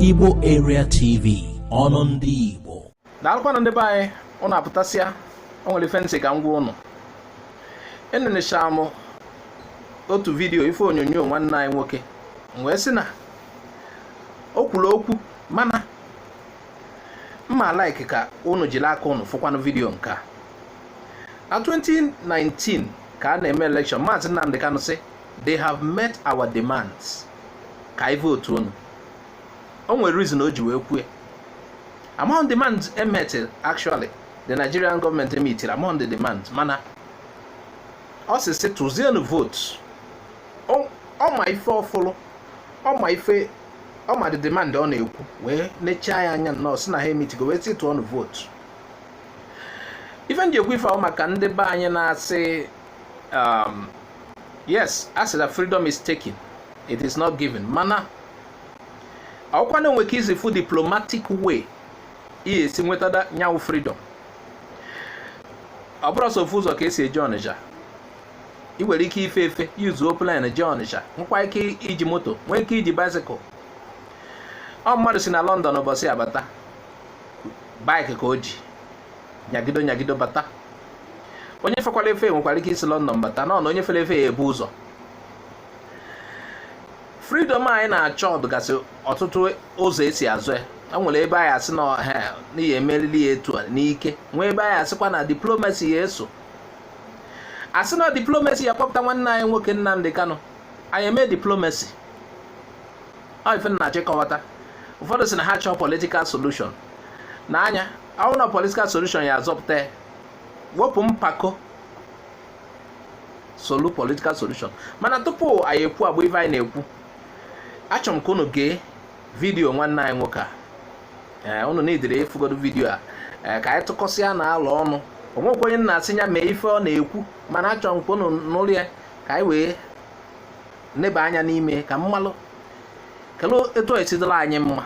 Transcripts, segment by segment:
Igbo Area TV ọnụ ndị Igbo daalụkwanụ ndị be anyị ụnụ apụtasịa o nwere ife m sị ka m gwa ụnụ enenechara m otu vidiyo ife onyonyo nwanne anyị nwoke wee sị na o kwuru okwu mana m ma like ka ụnụ jiri aka ụnụ fụkwanụ vidiyo nke a na 2019 ka a na-eme elekshọn maazị Nnamdi Kanu sị they have met our demands ka anyị vootu unu o nwere reason o ji wee kwue amahọ m the demand emitili actually the Nigerian gọọmenti emitiri amahọ m the demand mana ọ sị sị tụzienụ vootu ọ ma ife ọ fụlụ ọ ma ife ọ ma the demand ọ na-ekwu wee nechaa ya anya nnọọ sị na ha emitigo wee sị tụọnụ vootu ife m ji ekwu ife ahụ maka ndị be anyị na-asị um, yes a sị na freedom is taken it is not given mana ọkwa na e nwee ka i si fụ diplomatic way ị ya-esi nweta nyanwụ freedom ọ bụrọ sọ ofu ụzọ ka e si eje Ọnịcha ị nwere ike ife efe yuzuo plane jee Ọnịcha nwekwa ike iji moto nwee ike iji bicycle ọ mmadụ si na London ụbọchị a bata bike ka o ji nyagido nyagido bata onye fekwara efe nwekwara ike isi London bata na ụnọ onye fere efe ya-ebu ụzọ freedom anyị na-achọ dụgasị ọtụtụ ụzọ e si azọ ya e nwere ebe anyị asị na ihe a anyị ya-emerili ya etu a n'ike nwee ebe anyị asịkwa na diplomasi ya-eso a sị na diplomasi ya-akpọpụta nwanne anyị nwoke Nnamdi Kanu anyị emee diplomasi ife m na-achọ ịkọwata ụfọdụ sị na ha chọọ politikal solushon na nya nwụ na political solution ya-azọpụta ya wepụ mpako solu political solution mana tupu anyị ekwu agba ife anyị na-ekwu achọrọ m ka unu gee vidiyo nwanne anyị nwoke a ee unu na-edere efugodo vidiyo a ee ka anyị tụkọsịanụ alo ọnụ o nwekwa onye m na-asị ya mee ife ọ na-ekwu mana achọrọ m ka unu nụlụ ya ka anyị wee neba anya n'ime ka m malụkelụ etu ọ ya-esi dụrụ anyị mma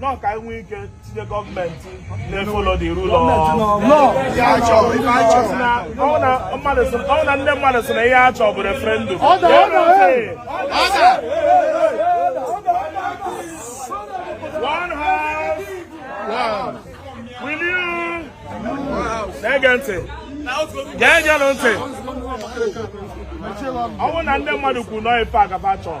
nọ ka e nwee ike tinye gọọmenti na-efolo the rule of law na ndị mmadụ sị na ihe ha chọọ bụ referendum na-ege ntị ga-egenụ ntị ọ bụrụ na ndị mmadụ kwuru na ọ ife a ka fa chọọ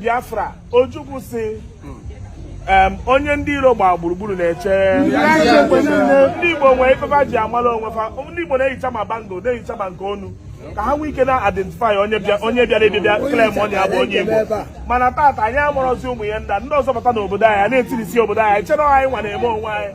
Biafra Ojukwu sị onye ndị iro gbaa gburugburu na-eche ndị Igbo nwee ife fa ji amala onwe fa ndị Igbo na-eyicha ma bangle na-eyicha ma nke onu ka ha nwee ike na-identify onye bịara abịa claim onye abụ onye Igbo mana taata anyị amarọzi ụmụ ya nda ndị ọzọ bata n'obodo anyị na-etirisi obodo anyị chere anyị nwa na-eme onwe anyị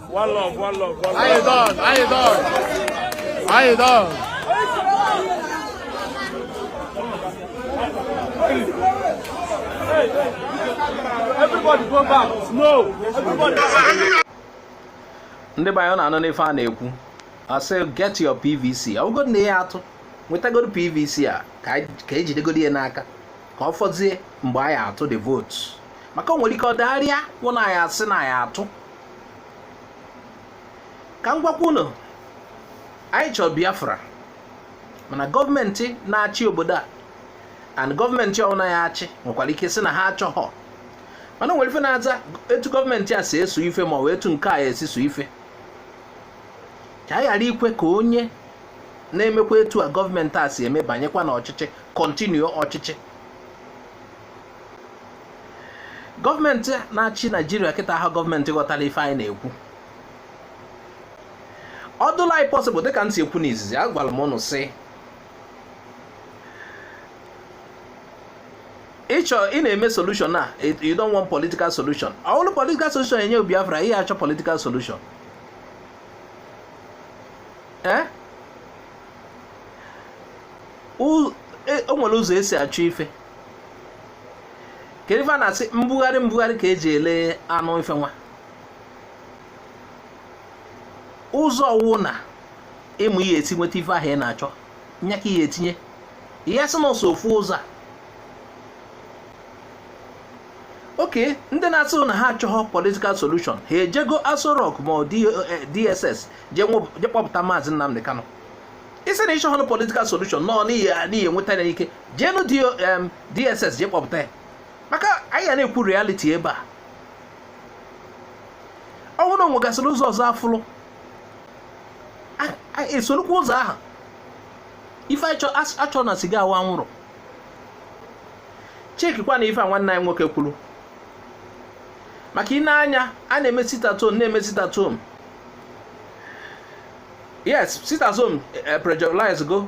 One love, one love, one love. How you doing? How you doing? How you doing? Hey, hey. Everybody go back. No. Everybody. Ndị be anyị unu na-anụ ife a na-ekwu a sị get your PVC ọ bụgodị na ị ya atụ nwetagodu PVC a ka ejidegodu ya n'aka ka ọ fọzie mgbe anyị ya atụ the vote maka o nwere ike ọ dagharịa wụ na anyị asị na anyị atụ ka m gwakwa unu anyị chọrọ biafra mana gọọmenti na-achị obodo a and gọọmenti ọbụla ya achị nwekwara ike sị na ha achọghọ mana o nwere ife na-aza etu gọọmenti a si eso ife ma ọ bụ etu nke a ya esi so ife ka anyị ghara ikwe ka onye na-emekwa etu a gọọmenti a si eme banyekwa n'ọchịchị continue ọchịchị gọọmenti na-achị naijiria kịta aha gọọmenti ghọtara ife anyị na-ekwu ọ dụla anyị possible dịka m si ekwu n'izizi agwara m unu sị ịchọ ị na-eme solution a you don't want political solution ọ bụrụ political solution enye Biafra ị ya achọ political solution ee o nwere ụzọ esi achọ ife kedu ife a na-asị mbugharị mbugharị ka eji ele anụ ife nwa ụzọ ọwụna ị ma ị ya esi nweta ife ahụ ị na-achọ nya ka ị ya etinye ị ya asị na ọ sọ ofu ụzọ a okay ndị na-asị na ha achọghọ political solution ha ejego Aso Rock ma DSS eh, jee kpọpụta maazị Nnamdi Kanu ị sị na ị chọghọ political solution na ị ya enweta ya n'ike jeenụ DSS jee kpọpụta ya maka anyị ya na-ekwu reality ebe a ọ bụrụ na o nwegasịrị ụzọ ọzọ afụlụ esorokwa ụzọ ahụ ife achọ na siga wụ anwụrụ chekikwa na ife a nwanne anyị nwoke kwuru maka ine anya a na-eme sit at home na-eme sit at home yes sit at home eh, paralyze go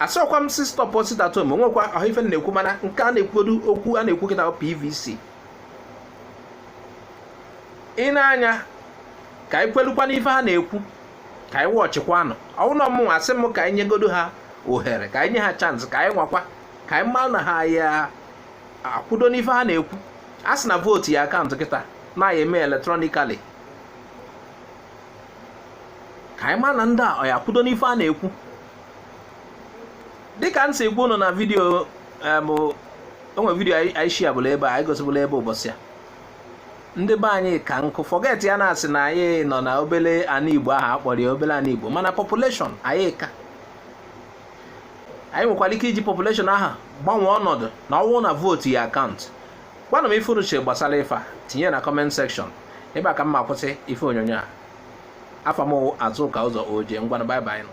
asịkwa m sị stop sit at home o nwekwa ife na-ekwu mana nke a na-ekwugodu okwu a na-ekwu kịta PVC ị na-anya ka anyị kwelukwa n'ife ha na-ekwu ka anyị watchịkwanụ ọ wụ na ọ mụnwa asị m ka anyị nyegodo ha ohere ka anyị nye ha chance ka anyị nwakwa ka anyị mara na ha ya-akwụdo n'ife ha na-ekwu a sị na vootu ya-akaụntụ kịta na a ya-eme electronically ka anyị mara na ndị a ọ ya-akwụdo n'ife ha na-ekwu dịka m si gwa unu na vidiyo o nwe vidiyo anyị sharebulu ebe a anyị gosibulu ebe ụbọsị a ndị be anyị ka nkụ fọget ya na-asị na anyị nọ na obele ana igbo ahụ a kpọrọ ya obele ana igbo mana population anyị ka anyị nwekwara ike iji population ahụ gbanwee ọnọdụ na ọ wụ na vootu ya-akaụntụ gwanụ m ife unu che gbasara ife a tinye na comment section ebe a ka m ma-akwụsị ife onyonyo a afa m azụka ụzọ oji ngwanụ bye bye nụ